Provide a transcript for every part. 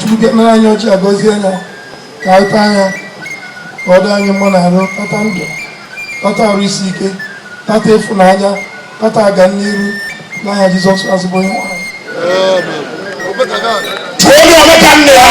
Chukwu bịa nara anyị ọjị a gọzie ya ka anyị taa ya ka ọ dị anyị mma n'arụ tata ndụ tata arụ isi ike tata ịfụnanya tata ọganiru n'aha Jizọs azụbụ onye nwanyị. Onye ọmụka nne ya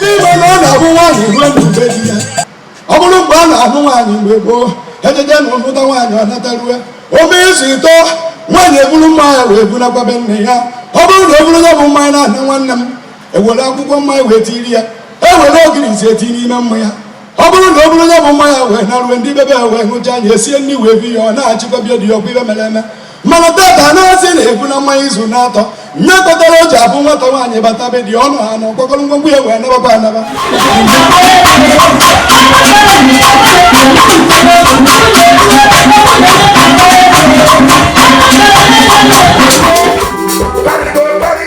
N'ime na ọ na-abụ nwaanyị ruo na be di ya ọ bụrụ mgbe a na-anụ nwaanyị mgbe gboo ejede nụta nwaanyị ọ natarue o mee izu ịtọ nwaanyị eburu mmanya wee bunakwa be nne ya ọ bụrụ na o buru ya bụ mmanya na-ahụ nwanne m ewere akwụkwọ mmanya wee tiri ya ewere ogirisi eti n'ime mmanya ọ bụrụ na o buru ya bụ mmanya wee naruwe ndị be ya wee hụcha anya esie nri wee bi ya ọ nachikwa be di ya ọkwa ife e mere eme mana tata na-asị na ebuna mmanya izu na-atọ nya kọtara o ji abụ nwata nwaanyị bata be di ọnụ ha na ọ kpọkọrọ ngwongwo ya wee nabakwa anaba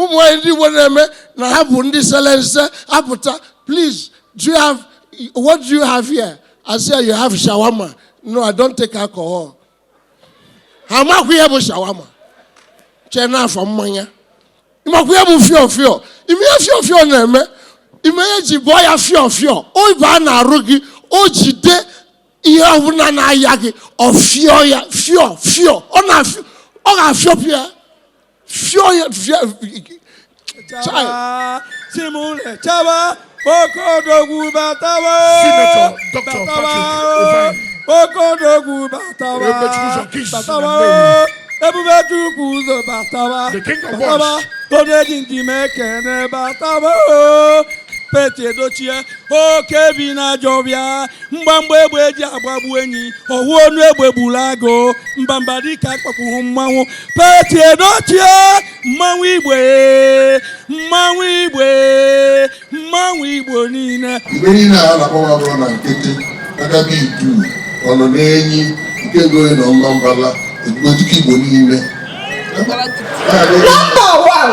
ụmụ nwanyị ndị Igbo na-eme na ha bụ ndị sele nse apụta please do you have what do you have here I say you have shawarma no I don't take alcohol ha amakwa ihe bụ shawarma chee na ọ bụ mmanya ị makwa ihe bụ fio fio ị ma ihe fio fio na-eme ị ma ihe e ji bụọ ya fio fio ọ baa n'arụ gị o jide ihe ọbụla na-aya gị ọ fịọ ya fịọ fịọ ọ na-afịọ ọ ga-afịọpụ ya fịọ ya fịọ chaba simule chaba okodogwu batawa batawa okodogwu batawa batawa ebube chukwu ụzọ batawa batawa onye ji nji mee kene batawa Pete Edochie oke bi n'ajọ ọfịa mgbamgba egbe eji agbagbu enyi ofu ọnụ egbe gburu agụ mbamba dike akpọkwughị mmanwụ Pete Edochie mmanwụ igwe mmanwụ igwe mmanwụ igbo niile mgbe niile a na-akpọ agụ ọ nọ nkịtị Agaba Idu ọnọ n'enyi nke gori na Ọmambala ezigbo dike igbo niile Number one.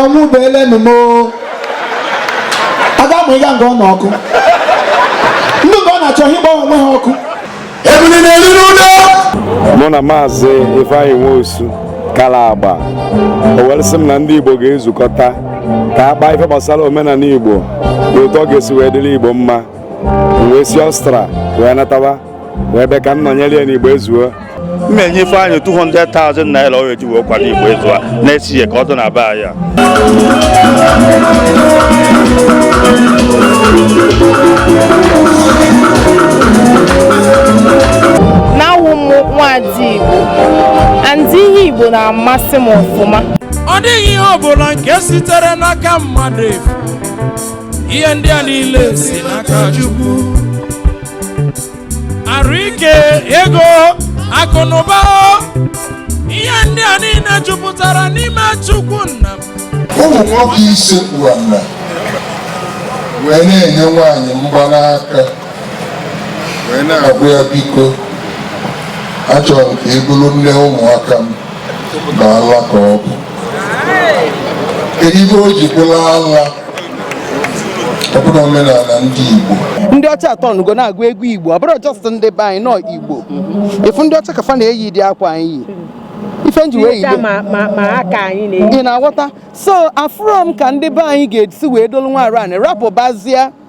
ọnwụ bụ elenu m aga m ịga nga ọ nọ ọkụ ndị mgbe ọ na-achọ ihe ịgbanwe onwe ha ọkụ ebili na-eri n'ụlọ mụ na maazị ifeanyị nwosu kara agba o were sị m na ndị igbo ga-ezukọta ka a kpaa ife gbasara omenala igbo na otu ọ ga-esi wee dịrị igbo mma m wee si Austria wee nataba ebe ka m nọnyere ya n'igbo ezuo m na-enye Ifeanyị 200,000 naira ọ eji wee kwado igbo ezuo a na-esi ya ka ọ dị na be anyị a. na awụ m nwaada igbo and ihe igbo na-amasị m ọfụma ọ dịghị ihe ọbụla nke sitere n'aka mmadụ efu ihe ndị a niile si n'aka chukwu arụ ike ego akụnụba ihe ndị a niile jupụtara n'ime chukwu nna m ụmụ nwoke isekpu ana wee na-enye nwaanyị mgbanaka wee na-agwa ya biko achọrọ m ka ị bụrụ nne ụmụaka m na ala ka ọ bụ kedu ebe o ji bụrụ ala ọ bụrụ omenala ndị Igbo ndị ọcha atọ nụgo na-agụ egwu Igbo ọ bụrụ just ndị be anyị nọ Igbo efu ndị ọcha ka fa na-eyi dị akwa anyị yi ife m ji wee yide ị na-aghọta so afụrọ m ka ndị be anyị ga-esi wee dolu nwa aran rapụbazie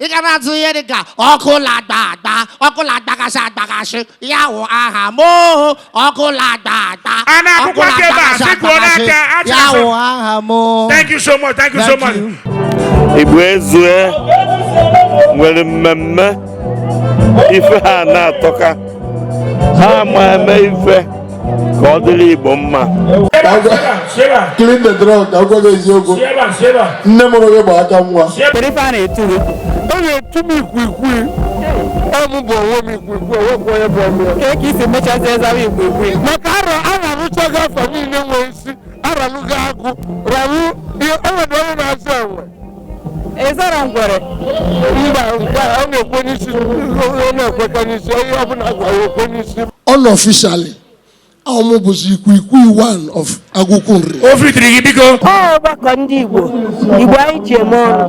ị ga na-atụ ihe dị ka ọkụ la-agba agba ọkụ la-agbagasị agbagasị ya wụ aha m oho ọkụ la-agba agba A na-akwụkwọ aka ebe a, sị kwuo n'aka, a chọrọ ya sị- wụ aha m oho Thank you so much. Thank you so much. Igbo ezue nwere mmemme ife ha na-atọka ha ma eme ife ka ọ dịrị Igbo mma nne mụrụ gị bụ aka nwa ọ mụ bụ onwe m ikwikwi o nwekwa onye bụ ọmụ ya ka isi mechazi ezawa ikwikwi maka arọ arọ arụchaghị afọ niile nwee isi aralụghị agụ rawu o nwere onye na-azụ enwe ị zara ngwere mba ọ na-ekwe n'isi ọ na-ekwekọ n'isi onye ọbụla gwara ekwe n'isi unofficially ọ mụ bụzi ikwikwi one of agụkwụ nri o fitiri gị biko ọgbakọ ndị igbo igbo anyị ji eme ọnụ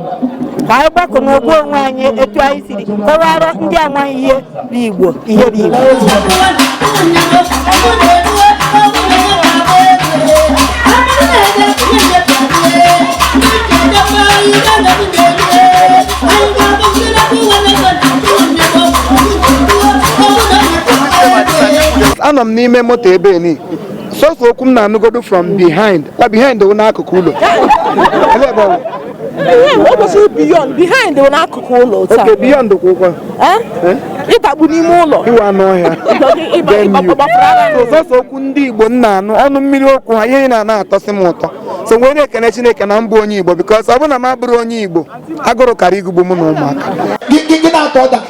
ka anyị gbakọ n'ogbu onwe anyị etu anyị siri kọwara ndị amaghị ihe Igbo ihe bụ Igbo anọ m n'ime moto ebe ni sọsọ okwu m na-anụgodu from behind kwa behind wụ n'akụkụ ụlọ o kwesịrị beyond behind bụ n'akụkụ ụlọ otu a. Okay, beyond kwụkwa. Eh? Eh? ịdagbu n'ime ụlọ iwe anụ ọhịa sọsọ okwu ndị Igbo m na-anụ ọnụ mmiri okwu ha ihe na-ana atọsị m ụtọ so wee na-ekene Chineke na m bụ onye Igbo because ọ bụrụ na m abụrọ onye Igbo agụrụ kara ịgụgbu m na ụmụaka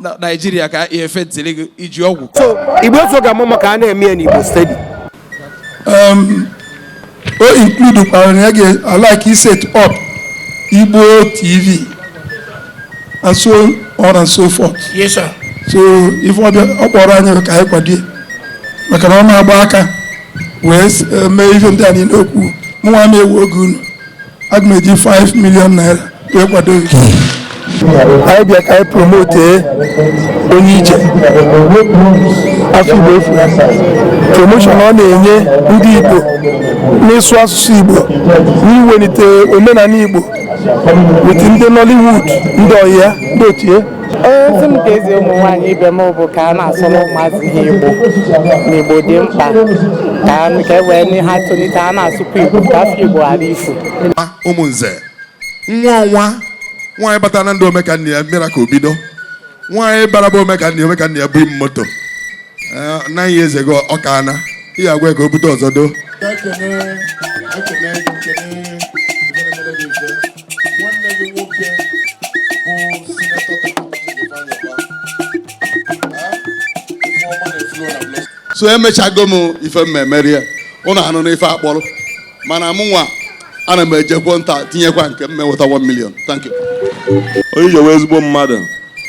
na naijiria ka efe ntịrị gị iji ọgwụ so igbo so ga-ama maka a na-eme ya n'igbo steeti um, o include kwara na ya ga-alike set up igbo tv and so on and so forth yes sir so ife ọbịa ọ kpọrọ anyị ka anyị kwado ya maka na ọ na-agba aka wee eh, mee ihe ndị a niile okwu mụnwa ma ewe oge unu aga m eji 5 million naira wee kwado gị anyị bịa ka anyị promote onye ije afa igbo efu promotion ọ na-enye ndị igbo n'ịsụ asụsụ igbo n'iwelite omenala igbo with ndị nollywood ndị ọhịa ndị ochie ozi m ga-ezi ụmụ nwaanyị ibe m bụ ka a na-asụrụ ụmụazị ha igbo na igbo dị mkpa ka a- ka e wee nye ha tolite a na-asụkwa igbo ka afa igbo ghara ifu nwa ụmụ nze nwa ọnwa nwaanyị batara na ndụ omekanne ya mmira ka obido nwaanyị bara bụ omekanne ya omekanne ya bụ im moto Eh, na ihe eze gị ọ ka na ihe agwa ya ka o bute ụzọ doo ekene ekene ekene nwanne gị nwoke bụ sinetọ so emechago m ife mmemmeri ya ụnụ anụ n'ife akpọrọ mana mụ nwa ana m ejekwo nta tinyekwa nke m meweta 1 million thank you onye ije wụ ezigbo mmadụ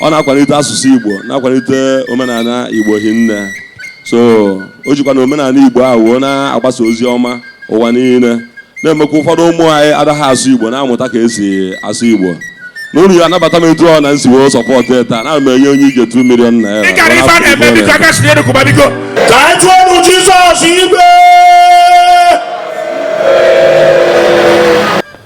ọ na-akwalite asụsụ igbo na-akwalite omenala igbo hinne so o jikwanụ omenala igbo ahụ wee na-agbasa ozi ọma ụwa niile na-emekwa ụfọdụ ụmụ anyị adaghị asụ igbo na-amụta ka esi asụ igbo na unu ya anabata m etu ọ na m si wee sọpọtụ taa na m enye onye ije 2 million naira ị gara ife a na-eme biko aka si n'elu kụba biko ka anyị tụọ ọnụ jizọs igwe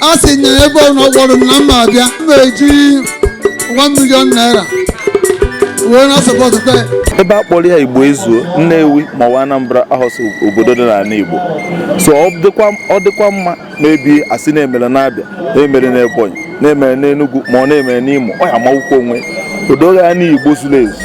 a sị na ebe ọ nọ kpọrọ m na m ma-abịa m ga-eji 1 million naira wee na-asọpọtụ kwe ebe a kpọrọ ya igbo ezuo nnewi ma ọ bụ anambra ahọs obodo dị n'ala igbo so ọ dịkwa ọ dịkwa mma ma ebe a sị na-emere n'abịa na-emere n'ebonyi na-emere n'enugwu ma ọ na-emere n'imo ọ ya amawụkwa onwe o doo anya na igbo zuru ezu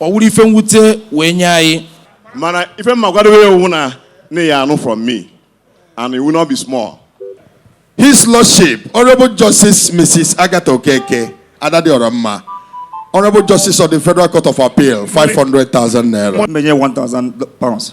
ọ wụrụ ife m wute wee nye anyị mana ife m ma-agwadowe ya ọ wụ na unu ya anụ from me and it will not be small His Lordship, Honorable Justice Mrs. Agatha Okeke, Adadiọramma, Honorable Justice of the Federal Court of Appeal, 500,000 naira. Many 1,000 pounds.